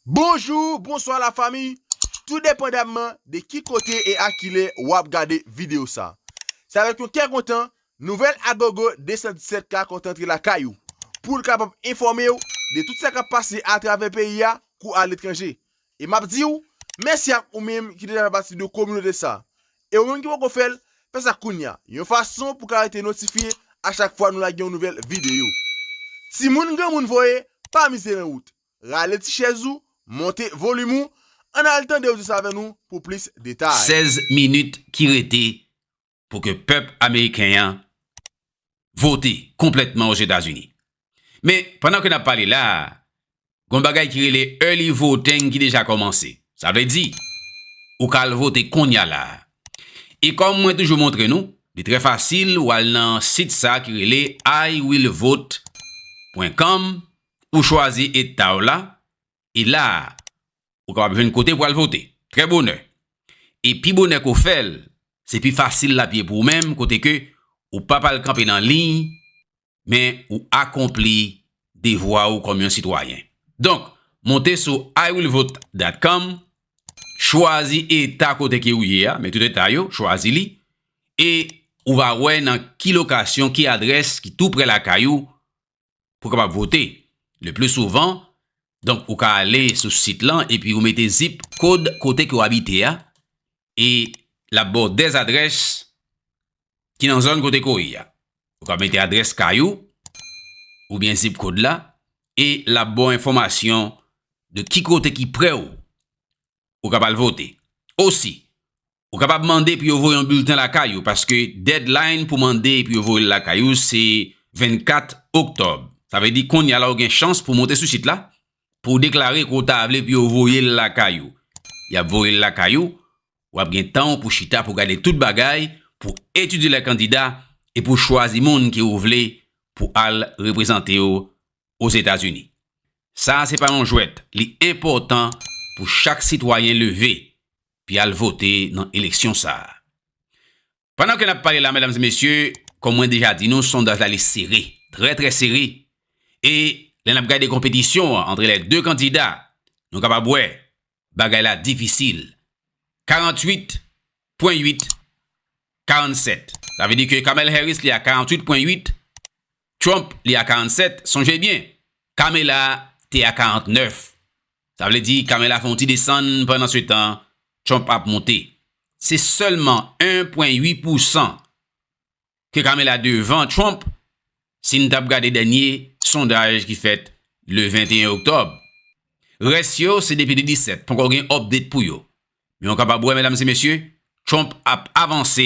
Bonjour, bonsoir la famille, tout depandamman de ki kote e a kilè wap gade video sa. Se avèk yon kè kontan, nouvèl Agogo 217 ka kontan antre lakay ou, poul kapab enfòmew de tout sa kap pase atravè peyi a kou aletranje. E map diw, mèsi ak ou menm ki deja fè pati de kominote sa. E ou menm ki poko fèl, fè sa kounya, yon fason pou ka rete notifye a chak fwa nou lage yon nouvèl video. Timoun granmoun voye, pa mize nan wout. Rale ti chèz ou, monte volim ou, ann al tande odyans avè nou pou plis detay. 16 minit ki rete pou ke pèp ameriken an vote konplètman Ozetazini. Men, pandan ke n ap pale la a, gon bagay ki rele early voting ki deja kòmanse. Sa vle di, ou ka al vote konnya la a. E kòm mwen toujou montre nou, li trè fasil ou al nan sit sa ki rele iwillvote pwen com Ou chwazi eta w la, e la a, ou kapab jwenn kote pou al vote, trè bonè. E pi bonè ke w fè l, se pi fasil l ap ye pou ou menm, kote ke ou p ap al kanpe nan liy, men ou akonpli devwa ou kòm yon sitwayen. Donk, monte sou iwillvote.com, chwazi eta kote ke ou ye a, men tout eta yo, chwazi li, e ou va wè nan ki lokasyon, ki adrès ki tou prè lakay ou, pou kapab vote. Le pli souvan, donk ou ka ale sou sit lan epi ou mete zip kod kote ke w abite a e l ap ba w 2 adrès ki nan zòn kote ke w ye a. Ou ka mete adrès kay ou oubyen zip kod la e l ap ba w enfòmasyon de ki kote ki pre w ou kab al vote. Osi, Ou kapab mande pou yo voye yon bilten lakay ou paske deadline pou mande pou yo voye l lakay ou se 24 oktòb. Sa vle di kounye a la ou gen chans pou monte sou sit la pou w deklare ke w ta vle pou yo voye l lakay ou. Y ap voye l lakay ou, w ap gen tan w pou chita pou gade tout bagay, pou etidye lè kandida e pou chwazi moun ke ou vle pou al reprezante w Ozetazini. Sa a se pa yon jwèt, li enpòtan pou chak sitwayen leve pi al vote nan eleksyon sa a. Pandan ke n ap pale la medam e mesye, kon mwen deja di nou sondaj la li sere, trè trè sere e lè n ap gade konpetisyon an antre lè 2 kandida nou kapab wè bagay la difisil. 48 pwen 8, 47. Sa vle di ke Kamel Harris li a 48 pwen 8, Trump li a 47, sonje byen, Kamela te a 49. Sa vle di Kamela fè yon ti desann pandan se tan Trump ap monte. Se sèlman 1 pwen 8 pousan ke Kamela devan Trump si n t ap gade dènye sondaj ki fèt le 21 oktòb. Rès yo se depi le 17, ponkò gen update pou yo. Men ou kapab wè medam se mesye, Trump ap avanse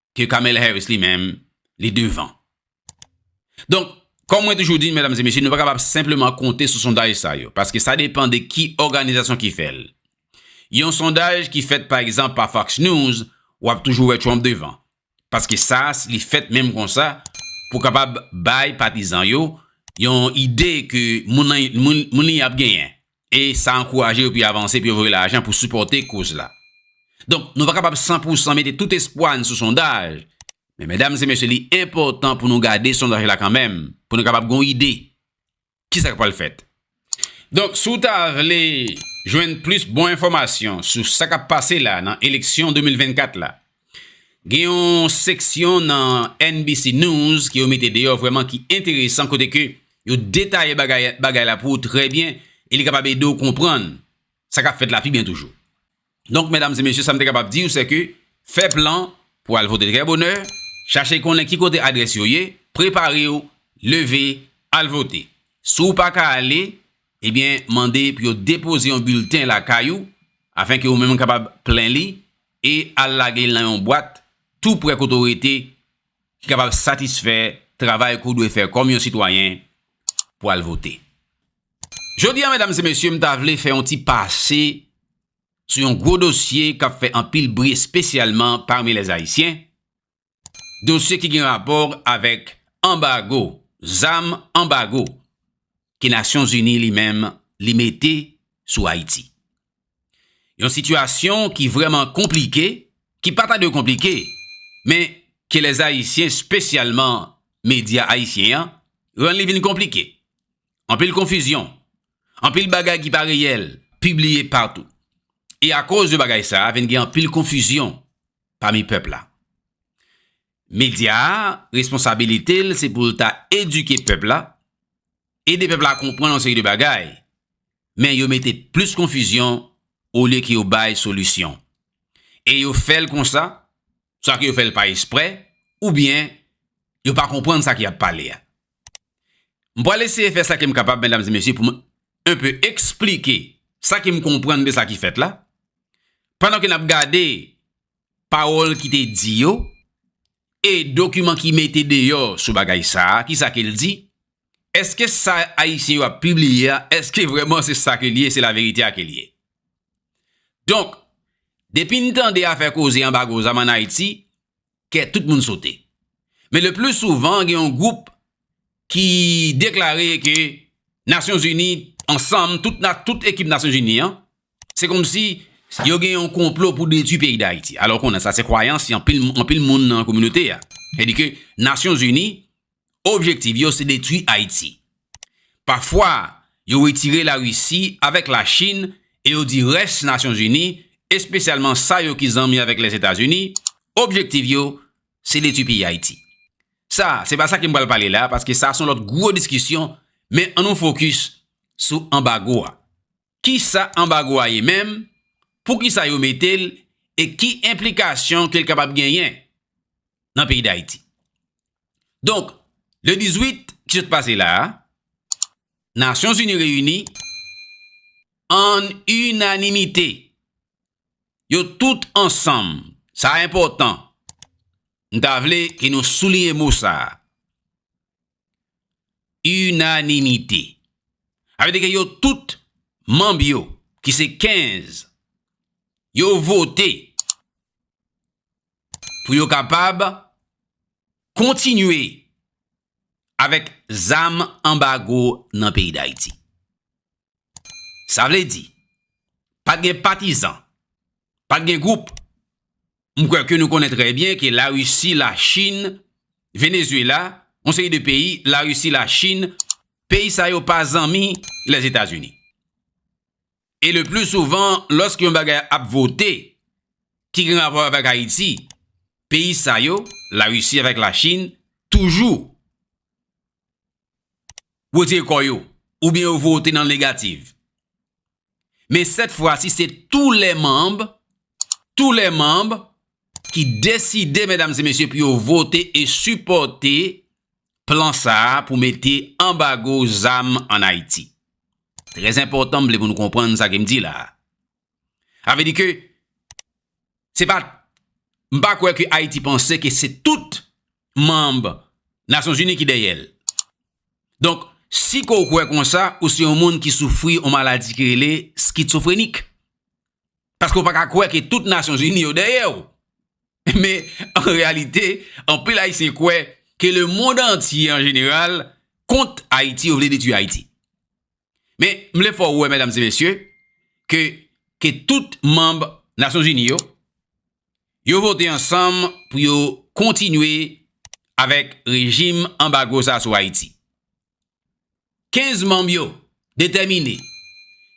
ke Kamel Harris li menm li devan. Donk, kòm mwen toujou di, mèdam e mesye, nou pa kapab senpleman konte sou sondaj sa yo, paske sa depan de ki òganizasyon ki fè l. Yon sondaj ki fèt pa egzanp pa Fox News, w ap toujou wè Trump devan. Paske sa li fèt menm konsa pou kapab bay patizan yo yon ide ke moun li ap genyen E sa ankouraje yo pou yo avanse, pou yo voye lajan pou sipòte koz la. Donk, nou pa kapab san pou san mete tout espwa n sou sondaj, men medam e mesye li enpòtan pou nou gade sondaj la kanmenm, pou nou kapab gen yon ide ki sa k pral fèt. Donk, si w ta vle jwenn plis bon enfòmasyon sou sa k ap pase la nan eleksyon 2024 la, Gen yon seksyon nan NBC News ke yo mete deyò vrèman ki enteresan kote ke yo detaye bagay la pou ou trè byen e li kapab ede ou konprann sa kap fèt la pi byen toujou. Donk, medam e mesye, sa m te kapab di ou se ke fè plan pou al vote trè bonè, chache konnen ki kote adrès yo ye, prepare ou, leve, al vote. Si ou pa ka ale, ebyen mande pou yo depoze yon bilten lakay ou afenke ou menm kapab plen li e al lage l nan yon bwat tou prè kote w rete ki kapab satisfè travay ke w dwe fè kòm yon sitwayen pou al vote. Jodi a medam e mesye m ta vle fè yon ti pase sou yon gwo dosye k ap fè anpil bri espesyalman pami lèzayisyen dosye ki gen rapò avèk anbago zam, anbago ke Nasyonzini li menm li mete sou Ayiti. Yon sitiyasyon ki vrèman konplike, ki pa ta dwe konplike, men ke lèzayisyen spesyalman medya ayisyen an rann li vin konplike. Anpil konfizyon, anpil bagay ki pa reyèl pibliye patou. E akoz de bagay sa a vin gen anpil konfizyon pami pèp la. Medya a, responsabilite l se pou l ta edike pèp la, ede pèp la konprann yon seri de bagay, men yo mete plis konfizyon olye ke yo bay solisyon. E yo fè l konsa, swa ke yo fè l pa espre, oubyen yo pa konprann sa ki ap pale a. M pral eseye fè sa ke m kapab, medam e mesye, pou m un peu eksplike sa ke m konprann de sa ki fèt la, pandan ke n ap gade pawòl ki te di yo, e dokiman ki mete deyò sou bagay sa, ki sa ke l di, èske sa Ayisyen yo ap pibliye a, èske vrèman se sa ke l ye, se laverite a ke l ye. Donk, depi n tande afè koze anbago zam an Ayiti, kè tout moun sote. Men le pli souvan gen yon gwoup ki deklare ke Nasyon Zini ansanm, tout ekip Nasyon Zini an, se kòm si yo gen yon konplo pou detwi peyi Dayiti. Alò konnen sa se kwayans anpil moun nan kominote a. Sèdike Nasyon Zini objektiv yo se detwi Ayiti. Pafwa, yo retire Larisi avèk Lachin e yo di rès Nasyonzini, espesyalman sa yo ki zanmi avèk Lèzetazini, objektiv yo se detwi peyi Ayiti. Sa, se pa sa ke m pral pale la, paske sa son lòt gwo diskisyon, men an nou fokis sou anbago a. Kisa anbago a ye menm, poukisa yo mete l e ki enplikasyon ke l kapab genyen nan peyi Dayiti. Donk, le 18 ki sot pase la a, Nasyon Zini reyini ann inanimite, yo tout ansanm, sa enpòtan, m ta vle ke nou souliye mo sa a, Inanimite. Sa vle di ke yo tout manb yo ki se 15 yo vote pou yo kapab kontinye avèk zam anbago nan peyi Dayiti. Sa vle di pa gen patizan, pa gen gwoup M kwè ke nou konnen trè byen ke la Risi, la Chin, Venezuela, yon seri de peyi, la Risi, la Chin, peyi sa yo pa zanmi Lèzetazini. E le pli souvan lòske yon bagay ap vote ki gen rapò avèk Ayiti, peyi sa yo, la Risi avèk la Chin, toujou wetire kò yo, oubyen yo vote nan negativ. Men sèt fwa si se tou lè manb, tou lè manb ki deside medam se mesye pou yo vote e sipòte plan sa a pou mete anbago zam an Ayiti. Trè zenpòtan m vle pou nou konprann sa ke m di la a. Sa vle di ke se pa, m pa kwè ke Ayiti panse ke se tout manb Nasyonzini ki dèyè l. Donk, si ke w kwè konsa, ou se yon moun ki soufri yon maladi ki rele skitsofrenik. Paske w pa ka kwè ke tout Nasyonzini yo dèyè w. Men, an reyalite, anpil Ayisyen kwè ke le mond antye an jeneral kont Ayiti, yo vle detwi Ayiti. Men, m vle fè w wè, medam e mesye, ke, ke tout manb Nasyon Zini yo, yo vote ansanm pou yo kontinye avèk rejim anbago sa sou Ayiti. Kenz manb yo detèmine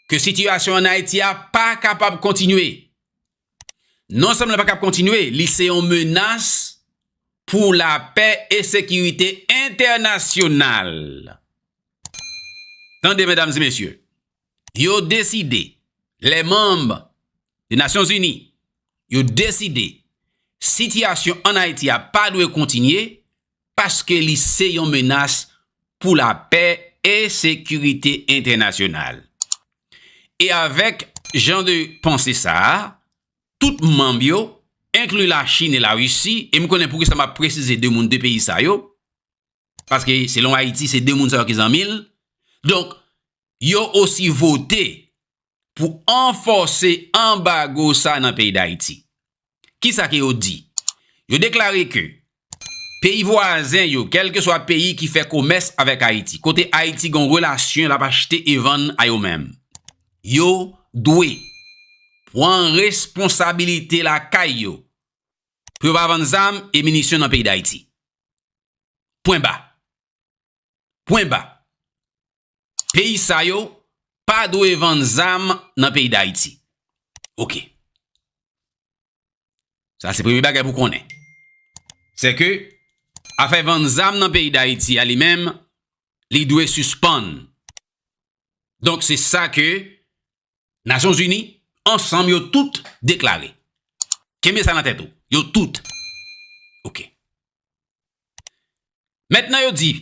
ke sitiyasyon an Ayiti a pa kapab kontinye Non sèlman li pa kab kontinye, li se yon menas pou lapè e sekirite entènasyonal. Tande medam e mesye, yo deside, lè manm de Nasyon Zini, yo deside sitiyasyon an Ayiti a pa dwe kontinye paske li se yon menas pou lapè e sekirite entènasyonal. E avèk jan de panse sa a, tout manm yo, enkli Lachin e Larisi, e m konnen poukisa m ap presize de moun de peyi sa yo, paske selon Ayiti se de moun sa yo ki zanmi l, donk yo osi vote pou anfòse anbago sa nan peyi Dayiti. Ki sa ke yo di? Yo deklare ke peyi vwazen yo, kèlke swa peyi ki fè komès avèk Ayiti, kote Ayiti gen yon relasyon l ap achte e vann a yo menm, yo dwe pran responsabilite lakay yo pou yo pa vann zam e minisyon nan peyi Dayiti. Pwen ba. Pwen ba. peyi sa yo pa dwe vann zam nan peyi Dayiti. Ok. Sa se premye bagay pou konnen. Se ke, afè vann zam nan peyi Dayiti a li menm, li dwe sispann. Donk se sa ke Nasyon Zini ansanm yo tout deklare. Kenbe sa nan tèt ou. Yo tout. Ok. Mèt nan yo di.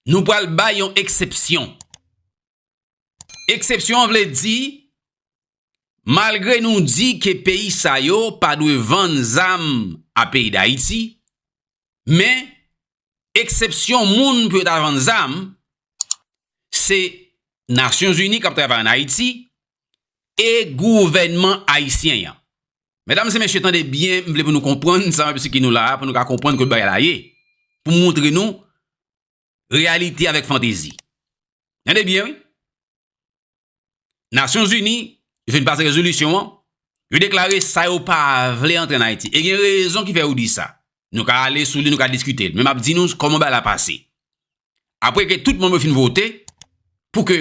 Nou pral bay yon eksepsyon. Eksepsyon an vle di, malgre nou di ke peyi sa yo pa dwe vann zam a peyi Dayiti, men, eksepsyon moun pou yo ta vann zam, se Nasyonzini k ap travay an Ayiti e gouvènman ayisyen an. Medam e mesye tande byen m vle pou nou konprann sa map esplike nou la pou nou ka konprann kot bagay la ye. Pou m montre nou reyalite avèk fantezi. Tande byen wi. Nasyon zini vin pase rezolisyon an. Yo deklare sa yo pa vle antre an Ayiti. E gen rezon ki fè yo di sa. Nou ka ale sou li nou ka diskite l. Men map di nou koman bagay la pase. apre ke tout moun yo fin vote, pou ke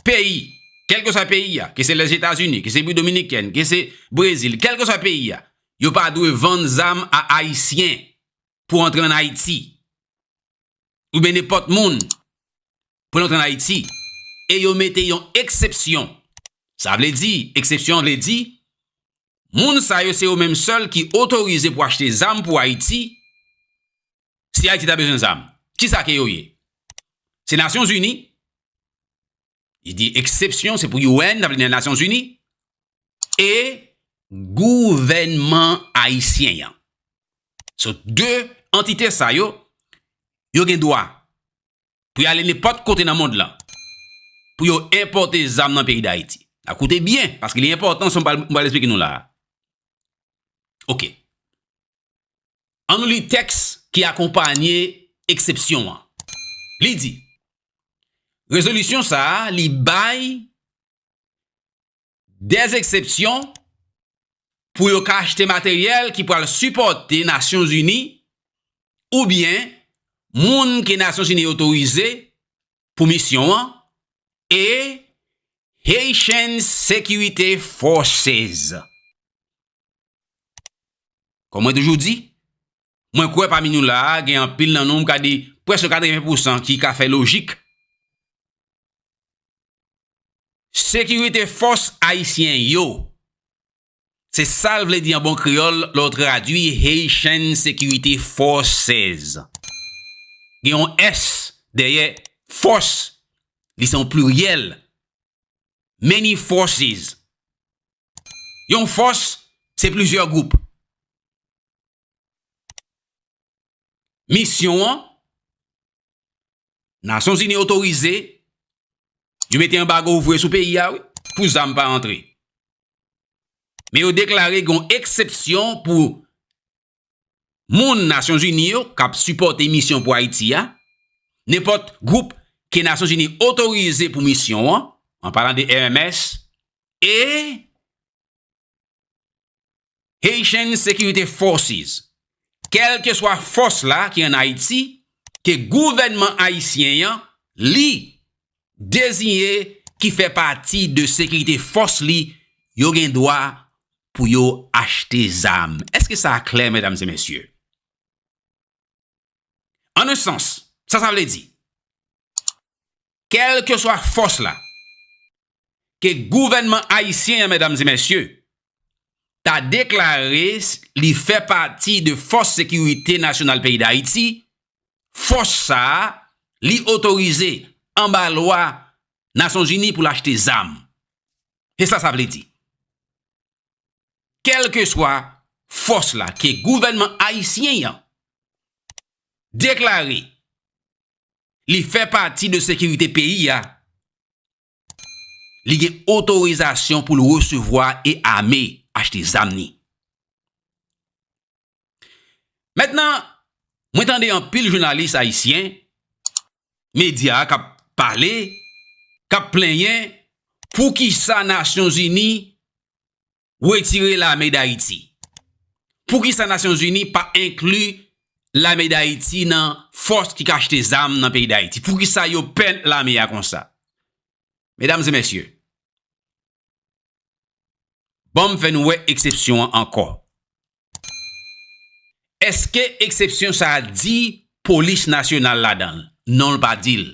peyi, kelke swa peyi ya, ke se Lèzetazini, ke se Bwi Dominikèn, ke se Brezil, kelke swa peyi ya, yo pa dwe vann zam a Ayisyen pou antre an Ayiti. Ou ben nenpòt moun pou antre an Ayiti. E yo mete yon eksepsyon. Sa vle di, eksepsyon vle di, moun sa yo se yo menm sèl ki otorize pou achte zam pou Ayiti, Si Ayiti ta bezwen zam, ki sa ke yo ye? Se Nasyon Zini? Li di eksepsyon se pou UN, sa vle di nan Nasyon Zini, e gouvènman ayisyen an. Se de antite sa yo, yo gen dwa pou y ale nenpòt kote nan mond lan, pou yo enpòte zam nan peyi Dayiti. A koute byen, paske li enpòtan sa m pral esplike nou la a. Ok. An nou li tèks ki akonpanye eksepsyon an. Li di, Rezolisyon sa a li bay de eksepsyon pou yo ka achte materyèl ki pral sipòte Nasyonzini oubyen moun ke Nasyonzini otorize pou misyon an e Haitian Security Forces. Kòm mwen toujou di, mwen kwè pami nou la a gen anpil nan nou m ka di prèske katreven pousan ki ka fè lojik. Sekirite fòs ayisyen yo. Se sa l vle di an bon kreyòl lè w tradui Haitian Security Forces. Gen yon s dèyè fòs, li se yon pliryèl. Many forces. Yon fòs se plizyè gwoup. Misyon an, Nasyon Zini otorize, yo mete anbago vre sou peyi a wi, pou zam pa antre. Men yo deklare gen yon eksepsyon pou moun Nasyon Zini yo k ap sipòte misyon pou Ayiti a, nenpòt gwoup ke Nasyon Zini otorize pou misyon an, an palan de RMS, e Haitian Security Forces, kèlkeswa fòs la ki an Ayiti, ke gouvènman ayisyen an li Deziye ki fè pati de sekirite fòs li yo gen dwa pou yo achte zam. Èske sa klè, medam e mesye? An un sans, sa sa vle di? Kèlkeswa fòs la ke gouvènman ayisyen an, medam e mesye, ta deklare li fè pati de fòs sekirite nasyonal peyi Dayiti, fòs sa a li otorize anba lwa Nasyonzini pou l achte zam. Se sa sa vle di. Kèlkeswa fòs la ke gouvènman ayisyen an deklare li fè pati de sekirite peyi a, Li gen otorizasyon pou l resevwa e ame, achte zam ni. Mètnan, mwen tande anpil jounalis ayisyen, medya k ap pale, k ap plenyen, poukisa Nasyonzini retire lame Dayiti? Poukisa Nasyon Zini pa enkli lame Dayiti nan fòs ki ka achte zam nan peyi Dayiti? Poukisa yo pè lame a konsa? Medam e mesye, banm fè nou wè eksepsyon an ankò. Eske eksepsyon sa a di Polis Nasyonal ladan l? Non l pa di l.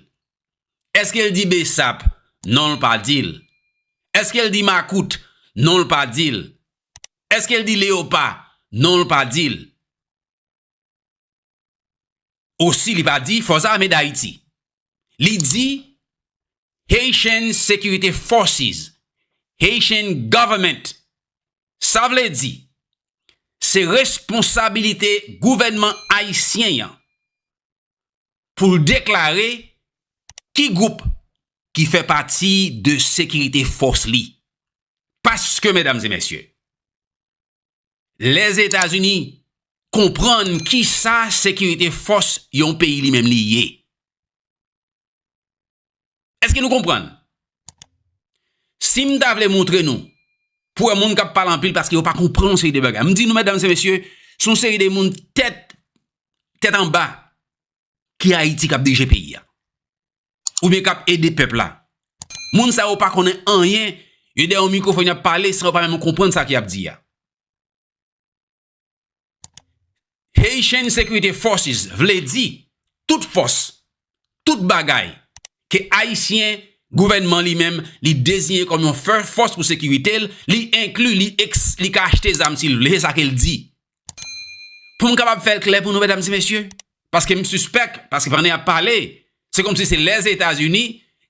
Eske l di bsap? Non l pa di l. Eske l di makout? Non l pa di l. Eske l di leyopa? Non l pa di l. Osi li pa di Fòs Ame Dayiti. Li di Haitian Security Forces, Haitian Government. Sa vle di, se responsabilite gouvènman ayisyen an pou l deklare ki gwoup ki fè pati de sekirite fòs li. Paske, medam e mesye, Lèzetazini konprann ki sa sekirite fòs yon peyi li menm li ye. Èske nou konprann? Si m ta vle montre nou, pou wè moun k ap pale anpil paske yo pa konprann yon seri de bagay. M di nou, medam se mesye, se yon seri de moun tèt, tèt anba. ki Haiti kap dirije peyi ya. Ou byen kap ede pep la. Moun sa yo pa konnen anyen, yo de yon mikrofon yap pale san yo pa menm konprann sa ki ap di ya. Haitian Security Forces vle di tout fos, tout bagay ke Ayisyen, gouvenman li menm, li deziyen kom yon fos pou sekirite li, li enkli, li ka achte zam si li vle, se sa ke li di. Pou m kapab fè l klè pou nou medam e mesye, paske m sispèk, paske pandan y ap pale, se kòmsi se Lèzetazini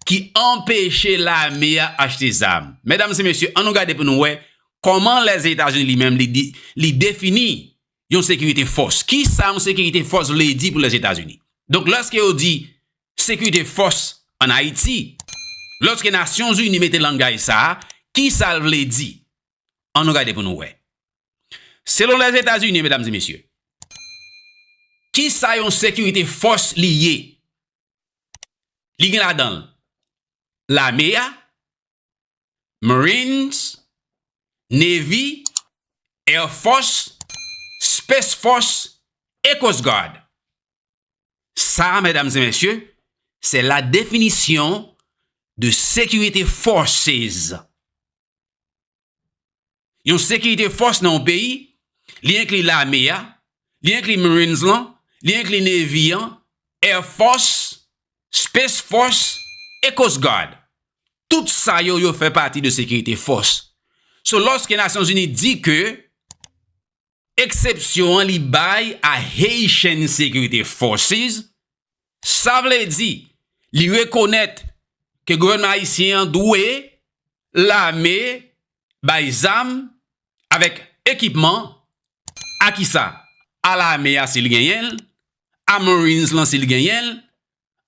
ki anpeche lame a achte zam. Medam e mesye, an nou gade pou nou wè, kòman Lèzetazini li menm li defini yon sekirite fòs. Ki sa yon sekirite fòs vle di pou Lèzetazini? Donk lòske yo di sekirite fòs an Ayiti, lòske Nasyonzini mete langaj sa a, ki sa l vle di? An nou gade pou nou wè. Selon Lèzetazini, medam e mesye, ki sa yon sekirite fòs li ye? Li gen ladan l, lame a, Marines, Navy, Air Force, Space Force e Coast Guard. Sa a, medam e mesye, se la definisyon de sekirite forces. Yon sekirite fòs nan yon peyi, li enkli lame a, li enkli Marines lan, li enkli Navy an, Air Force, Space Force e Coast Guard. Tout sa yo, yo fè pati de sekirite fòs. So, lòske Nasyonzini di ke Eksepsyon an li bay a Haitian Security Forces, sa vle di li rekonèt ke gouvènman ayisyen an dwe lame bay zam avèk ekipman a kisa? A lame a si l genyen l, a marines lan si l genyen l,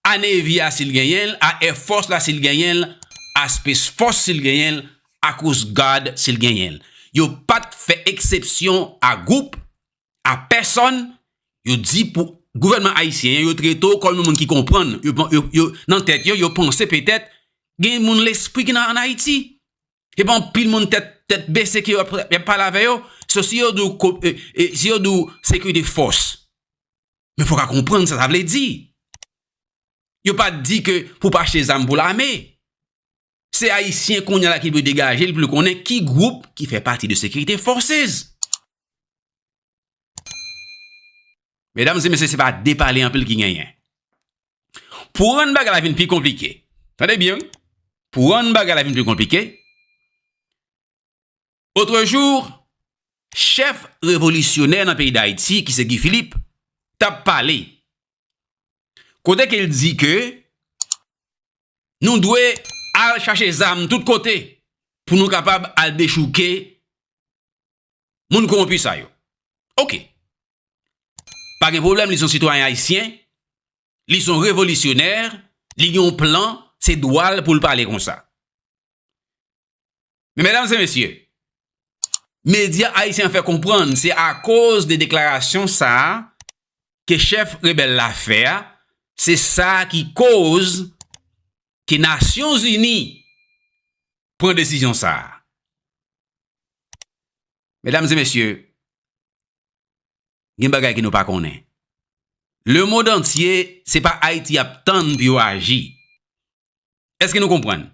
a Navy a si l genyen l, a Air Force la si l genyen l, a Space Force si l genyen l, a Coast Guard si l genyen l. Yo pa t fè eksepsyon a gwoup, a pèsòn, yo di pou gouvènman ayisyen an yo trete w kòm yon moun ki konprann, yo nan tèt yo, yo panse petèt gen moun lespri ki nan ann Ayiti. Se pa anpil moun tèt tèt bese ke y ap pale avè yo, so si yo di w sekirite fòs. Men fok a konprann sa sa vle di. Yo pa di ke pou pa achte zam pou lame. Se ayisyen konya la ki dwe degaje li pou li konnen ki gwoup ki fè pati de sekirite fòsez. Medam se mesye se pa de pale anpil ki genyen. Pou rann bagay la vin pi konplike. Tande byen. Pou rann bagay la vin pi konplike. Otre jou, chèf revolisyonè nan peyi Dayiti ki se Guy Philippe t ap pale kote ke l di ke nou dwe al chache zam tout kote pou nou kapab al dechouke moun kowonpi sa yo. Ok. Pa gen pwoblèm li son sitwayen ayisyen, li son revolisyonè, li gen yon plan, se dwa l pou l pale konsa. Men medam se mesye, medya ayisyen an fè konprann se akoz de deklarasyon sa a ke chèf rebèl la fè a, se sa ki koz ke Nasyonzini pran desizyon sa a. Medam se mesye, gen bagay ke nou pa konnen. Lemond antye, se pa Ayiti y ap tann pou yo aji. Eske nou konprann?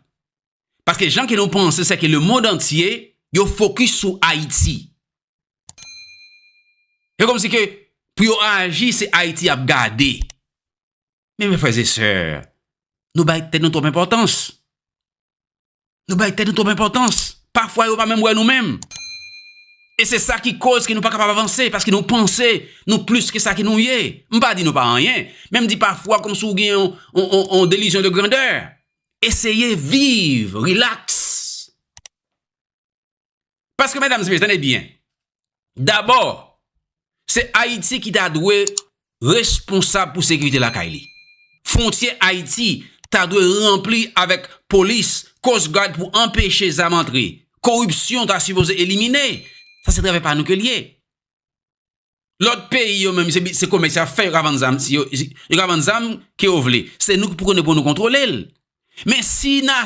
Paske jan ke nou panse seke le mond antye yo fokis sou Ayiti. E komsi ke pou yo aji se Ayiti yap gade. Men men frèzesè, nou bay tèt nou twòp enpòtans. Nou bay tèt nou twòp enpòtans. Pafwa yo pa menm wè nou menm. E se sa ki koz ke nou pa kapab avanse, paske nou panse nou plis ke sa ke nou ye. M pa di nou pa anyen, men m di pafwa kòm si w gen yon delizyon de grandè. Eseye viv, rilaks. Paske medam se mesye tande byen. Dabò se Ayiti ki ta dwe responsab pou sekirite lakay li. Fwontyè Ayiti ta dwe ranpli avèk polis, coast guard pou anpeche zam antre. Koripsyon ta sipoze elimine. Sa se travay pa nou ke li ye. Lòt peyi yo menm se komès yap fè yo ka vann zam si yo ka vann zam ke yo vle. Se nou ki pou konnen pou nou kontwole l. Men si na.